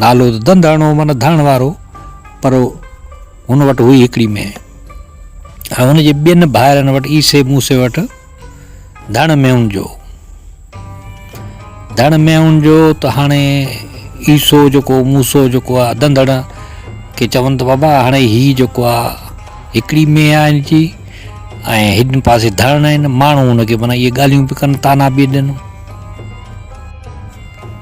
نالو ته ڌنڌ هڻو معنيٰ ڌڻ وارو پر هن وٽ هئي هڪڙي مينهن ۽ هن جي ٻين ڀائرن وٽ عيسي موسي وٽ ڌڻ مينهن جو ڌڻ مينهن جو ته هاڻي عيسو جيڪو موسو جيڪو آهي ڌنڌڻ کي چون ته بابا هاڻي هي جيڪو آهي هڪڙي مينهن آهي هن جي ۽ هن پاسي ڌڻ آهن ماڻهو هن کي معنيٰ اهي ڳالهيون به ڪن تانا به ڏين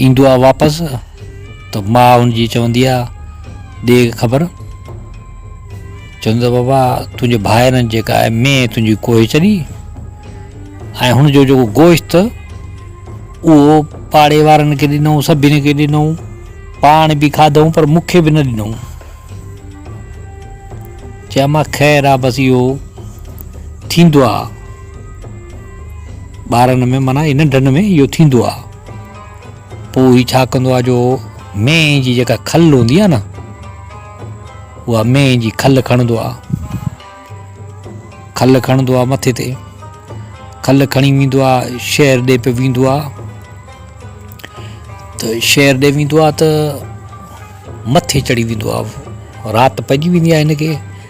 ايندو آ واپس ته ماء ان جي چوندي آ ڏي خبر چوندي آ بابا تنهنجي ڀائرن جيڪا آهي مين تنهنجي ڪوهي چڏي ۽ هن جو جيڪو گوشت اهو پاڙي وارن کي ڏنو سڀني کي ڏنو پاڻ به کاڌو پر مون کي به نه ڏنو چيا مان خير آ بس اهو ٿيندو آ ٻارن ۾ معنيٰ ننڍن ۾ اهو ٿيندو آهي. پوء هي ڇا ڪندو آهي جو مينهن جي جيڪا کل هوندي آهي نه اها مينهن جي کل کڻندو آهي. کل کڻندو آهي مٿي تي کل کڻي ويندو آهي شهر ڏي پيو ويندو آهي ته شهر ڏي ويندو آهي ته مٿي چڙهي ويندو آهي رات پئجي ويندي آهي هن کي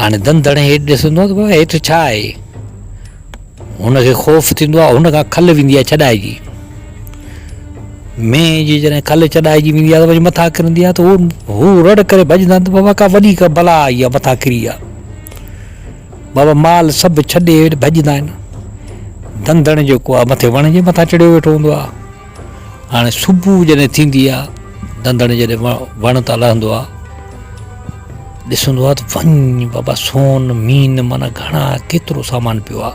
هاڻي دن دڙي هيٺ ڏسندو آهي ته بابا هيٺ ڇا آهي هن کي خوف ٿيندو آهي هن کان کل ويندي آهي ڇڏائجي مين جي جڏهن کل ڇڏائجي ويندي آهي ته وڃي مٿان ڪرندي آهي ته هو هو رڙ ڪري ڀڄندا آهن ته بابا ڪا وڏي ڪا بلا آئي آهي مٿان ڪري آهي بابا مال سڀ ڇڏي هيٺ ڀڄندا آهن دن دڙي جيڪو آهي مٿي وڻ جي مٿان چڙهيو ويٺو هوندو آهي هاڻي صبح جڏهن ٿيندي آ دندڻ جڏهن وڻ تان لهندو آ ڏسندو آ ته وڃ بابا سون مين مانا گهڻا ڪيترو سامان پيو آ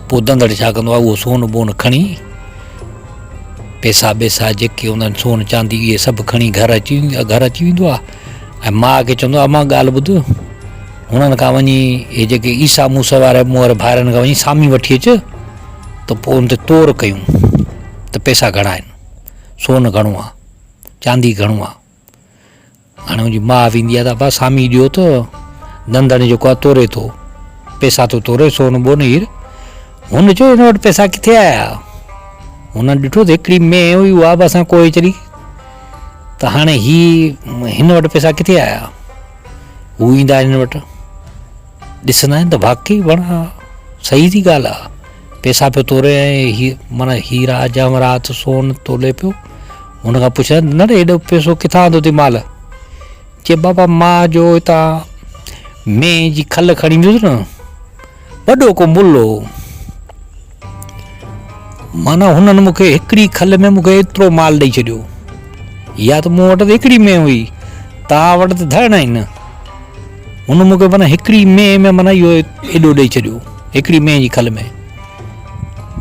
پوء دندڙ ڇا ڪندو آ اهو سون بون کڻي پيسا بيسا جيڪي هوندا آهن سون چاندي اهي سڀ کڻي گهر اچي گهر اچي ويندو آ ۽ ماء کي چوندو آ اما ڳالهه ٻڌ هنن کان وڃي اهي جيڪي عيسا موسا وارا مون وارا ڀائرن کان وڃي سامي وٺي اچ ته پوء ان تي تور ڪيون ته پئسا گهڻا آهن سون گهڻو آهي چاندي گهڻو آهي هاڻي منهنجي ماء ويندي آهي ته ابا سامي ڏيو ته نندڻ جيڪو آهي توري ٿو پئسا ٿو توري سون ٻون هير هن چيو هن وٽ پئسا ڪٿي آيا هن ڏٺو ته هڪڙي مين هئي اها به اسان ڪوئي چري ته هاڻي هي هن وٽ پئسا ڪٿي آيا هو ايندا آهن هن وٽ ڏسندا آهن ته واقعي وڻ آ صحيح جي ڳالهه آ پيسا پيو توري ۽ هي معنيٰ هيرا جواهرات سون تولي پيو هن کان پڇا نه ڙي هيڏو پيسو ڪٿان آندو تي مال چي بابا مان جو هتان مينهن جي کل کڻي ايندو هو نه وڏو ڪو مل هو معنيٰ هنن مون کي هڪڙي کل ۾ مون کي ايترو مال ڏئي ڇڏيو. يا ته مون وٽ ته هڪڙي مينهن هئي، توهان وٽ ته ڌڻ آهن. هن مون کي معنيٰ هڪڙي مينهن ۾ معنيٰ اهو ايڏو ڏئي ڇڏيو، هڪڙي مينهن جي کل ۾.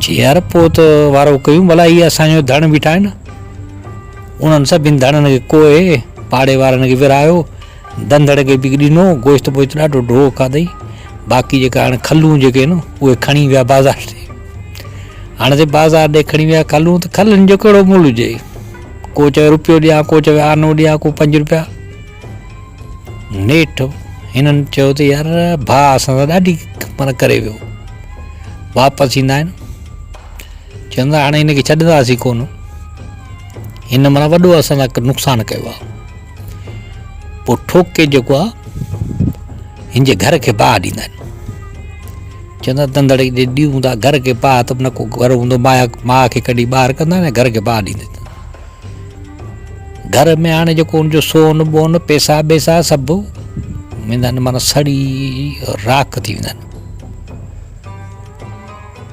چي يار پوء ته وارو ڪيون ڀلا هي اسان جو ڌڻ بيٺا آهن. انهن سڀني ڌڻن کي ڪوهي پاڙي وارن کي ورهايو. ڌنڌڙ کي به ڏنو، گوشت بوشت ڏاڍو ڍو کاڌئي، باقي جيڪا هاڻي کلون جيڪي هين اهي کڻي ويا بازار ڏي، هاڻي سي بازار ڏي کڻي ويا کلون ته کلن جو ڪهڙو مول هجئي، ڪو چوي روپيو ڏيان ڪو چوي آنو ڏيان ڪو پنج روپيا، نيٺ هنن چيو ته يار ڀاء اسان سان ڏاڍي معنيٰ ڪري ويو، واپس ايندا آهن چون ٿا هاڻي هن کي ڇڏنداسين ڪونه، هن معنيٰ وڏو اسان سان نقصان ڪيو آهي. پوء ٺوڪي جيڪو آ هن جي گهر کي باهه ڏيندا آهن چوندا تندڙ جي ڏيون هوندا گهر کي باهه ته نه کو گهر هوندو مايا ماء کي ڪڍي ٻاهر ڪندا نه گهر کي باهه ڏيندي گهر ۾ هاڻي جيڪو هن جو سون ٻون پيسا ٻيسا سڀ ويندا آهن مانا سڙي راک ٿي ويندا آهن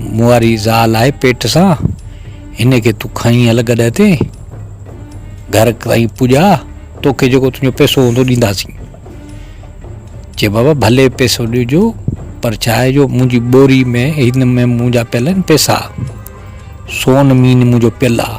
مون واري زال آهي پيٽ سان هن کي تون کڻي هل گڏهه تي گهر تائين پڄا توکي جيڪو تنهنجو پيسو هوندو ڏينداسين چي بابا ڀلي پيسو ڏجو پر ڇا آهي جو منهنجي ٻوري ۾ هن ۾ منهنجا پيل آهن پيسا سون مين منهنجو پيل آهي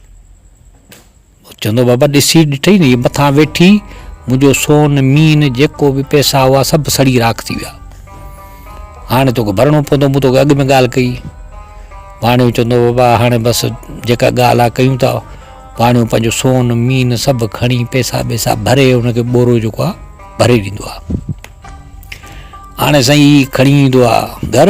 چوندو بابا ڏسي ڏٺئي نه هي مٿان ويٺي منهنجو سون مين جيڪو به پئسا هئا سڀ سڙي راک ٿي ويا هاڻي توکي ڀرڻو پوندو مون توکي اڳ ۾ ڳالهه ڪئي واڻيو چوندو بابا هاڻي بس جيڪا ڳالهه آهي ڪيون ٿا واڻيو پنهنجو سون مين سڀ کڻي پئسا ويسا ڀري هنکي ٻورو جيڪو آهي ڀري ڏيندو آهي هاڻي سائين هي کڻي ايندو آهي گهر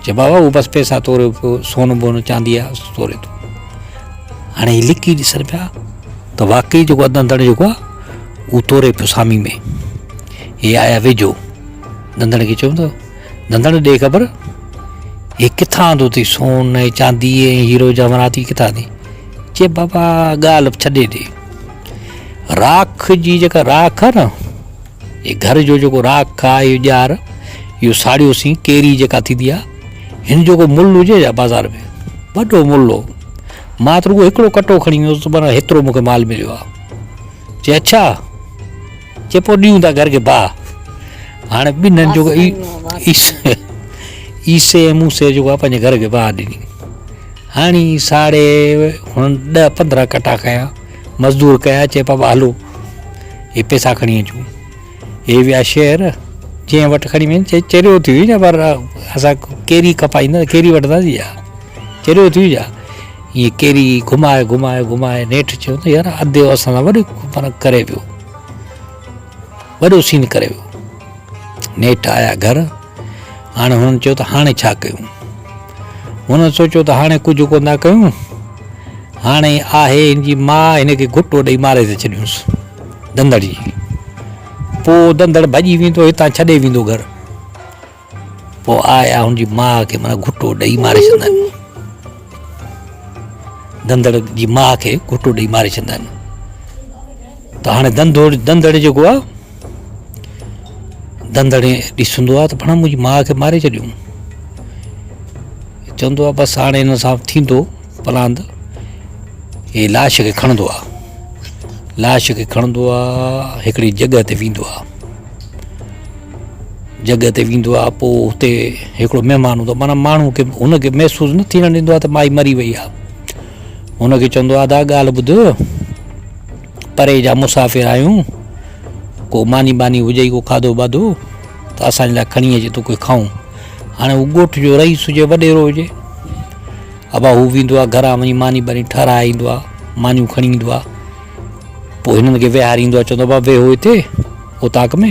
چئي بابا هو بس پئسا توريو پيو سون بون چاندي آ توري ٿو هاڻي هي لڪي ڏسن پيا ته واقعي جيڪو اڌ اندڻ جيڪو آ هو توري پيو سامي ۾ هي آيا ويجهو دندڻ کي چيو دندڻ ڏي خبر هي ڪٿان آندو اٿي سون ۽ چاندي ۽ هيرو جواهرات هي ڪٿان آندي چئي بابا ڳالهه ڇڏي ڏي راک جي جيڪا راک آ نه هي گهر جو جيڪو راک آهي اهو ڄار اهو ساڙيو سين ڪيري جيڪا ٿيندي آهي هن جو ڪو ملهه هجي ڇا بازار ۾ وڏو ملهه هو مان ته رڳو هڪڙو ڪٽو کڻي ويو هوس معنيٰ هيترو مون کي مال مليو آهي چي اڇا چي پوء ڏيون ٿا گهر کي باهه هاڻي ٻنهن جو عيسي ۽ موسي جيڪو آهي پنهنجي گهر کي باهه ڏني هاڻي ساڙي هن ڏهه پندرهن ڪٽا کنيا مزدور ڪيا چيپا ٻالو، هي پيسا کڻي اچون. هي ويا شهر، جنهن وٽ کڻي وين چي چريو ٿي وڃ پر اسان ڪيري کپائيندا، ڪيري وٺنداسين ڇا؟ چريو ٿي وڃ. ائين ڪيري گهمائي گهمائي گهمائي نيٺ چيو ته يار اديو اسان سان وڏو فرق ڪري ويو. وڏو سين ڪري ويو. نيٺ آيا گهر. هاڻي هنن چيو ته هاڻي ڇا ڪيون؟ هنن سوچيو ته هاڻي ڪجهه ڪونه ٿا ڪيون، هاڻي آهي هن جي ماء، هن کي گهٽو ڏئي ماري ٿي ڇڏيونس. دندڙ جي پوء دندڙ ڀڄي ويندو هتان ڇڏي ويندو گهر. پوء آء آء هن جي ماء کي معنيٰ گهٽو ڏئي ماري ڇڏندا آهن. دندڙ جي ماء کي گهٽو ڏئي ماري ڇڏندا آهن. ته هاڻي دندڙ جيڪو آهي دندڙي ڏسندو آ ته پڙهان منهنجي ماء کي ماري ڇڏيو چوندو آ بس هاڻي هن سان ٿيندو پلاند هي لاش کي کڻندو آ لاش کي کڻندو آ هڪڙي جڳهه تي ويندو آ جڳهه تي ويندو آ پو هتي هڪڙو مهمان هوندو معنيٰ ماڻهو کي هن کي محسوس نه ٿيڻ ڏيندو آ ته مائي مري وئي آ هن کي چوندو آ ادا ڳالهه ٻڌ پري جا مسافر آهيون، ڪو ماني ٻاني هجئي ڪو کاڌو باڌو ته اسان جي لاء کڻي اچ تو کي کائون. هاڻي هو ڳوٺ جو رئيس هجي وڏيرو هجي ابا هو ويندو آهي گهران وڃي ماني ٻاني ٺاراهي ايندو آهي مانيون کڻي ايندو آهي پوء هنن کي ويهاريندو آهي چوندو آهي بابا ويهو هتي اوطاق ۾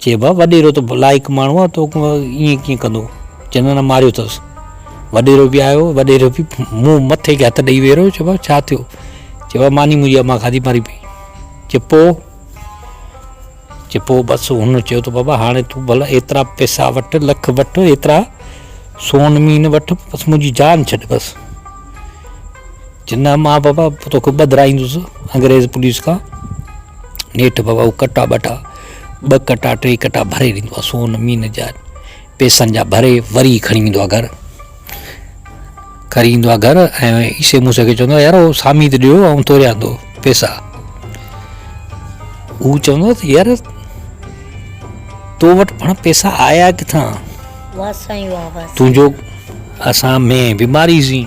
چيو ڀا وڏيرو ته لائق ماڻهو آ تو ائين ڪيئن ڪندو چندن ۽ ماريو اٿس وڏيرو به آيو وڏيرو به منهن مٿي کي هٿ ڏئي ويهرو چيو ڀا ڇا ٿيو چيو ڀا ماني منهنجي اما کاڌي مري پئي چيو پو چيو پو بس هن چيو ته بابا هاڻي تون ڀلا ايترا پئسا وٺ لک وٺ ايترا سون مين وٺ بس منهنجي جان ڇڏ بس جناح، مان بابا توکي ٻڌرائيندس انگريز پوليس کان. نيٺ بابا هو ڪٽا ٻٽا، ٻه ڪٽا ٽي ڪٽا ڀري ڏيندو آهي سون مين جا پيسن جا ڀري وري کڻي ايندو آهي گهر. کري ايندو آهي گهر ۽ عيسي موسي کي چوندو آهي يار هو سامي ته ڏيو آئون توريان ٿو پيسا. هو چوندو آهي يار تو وٽ پڻ پيسا آيا ڪٿان؟ تنهنجو اسان ۾ بيماري سين.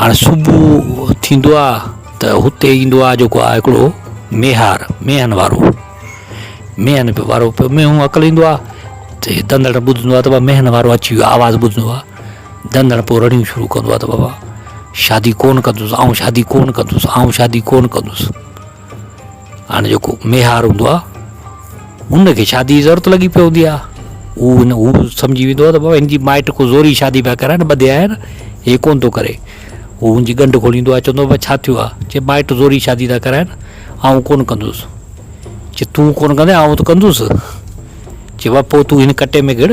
هاڻ صبح ٿيندو آ ته هتي ايندو آ جيڪو آ هڪڙو ميهار ميهن وارو ميهن وارو مينهون اڪل ايندو آ ته دندڻ ٻڌندو آ ته بابا ميهن وارو اچي ويو آواز ٻڌندو آ دندڻ پوء رڙيون شروع ڪندو آ ته بابا شادي ڪون ڪندس آئون شادي ڪون ڪندس آئون شادي ڪون ڪندس هاڻي جيڪو ميهار هوندو آ ان کي شادي جي ضرورت لڳي پيو هوندي آ هو هن هو سمجهي ويندو آ ته بابا هن جي مائٽ ڪو زوري شادي پيا ڪرائين ٻڌي آيا آهن هي ڪونه ٿو ڪري هو هن جي ڳنڍ کوليندو آ چوندو آ ڇا ٿيو آ چي مائٽ زوري شادي ٿا ڪرائين آئون ڪونه ڪندس چي تون ڪونه ڪندين آئون ته ڪندس چي بابا پو تون هن ڪٽي ۾ گهڙ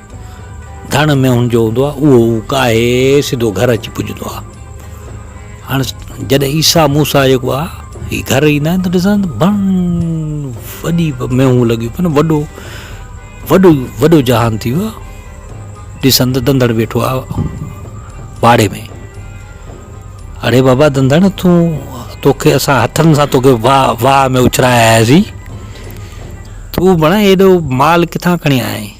ڌڻ مينهن جو هوندو آهي اهو هو ڪاهي سڌو گهر اچي پڄندو آهي هاڻ جڏهن عيسا موسا جيڪو آهي هي گهر ايندا آهن ته ڏسندا آهن ڀن وڏي مينهون لڳيون پيون وڏو وڏو وڏو جهان ٿي ويو آهي ڏسن ته دندڙ ويٺو آهي واڙي ۾ اڙي بابا دندڙ تون توکي اسان هٿن سان توکي واهه واهه ۾ اڇراياسين تون بڻا ايڏو مال ڪٿان کڻي آئين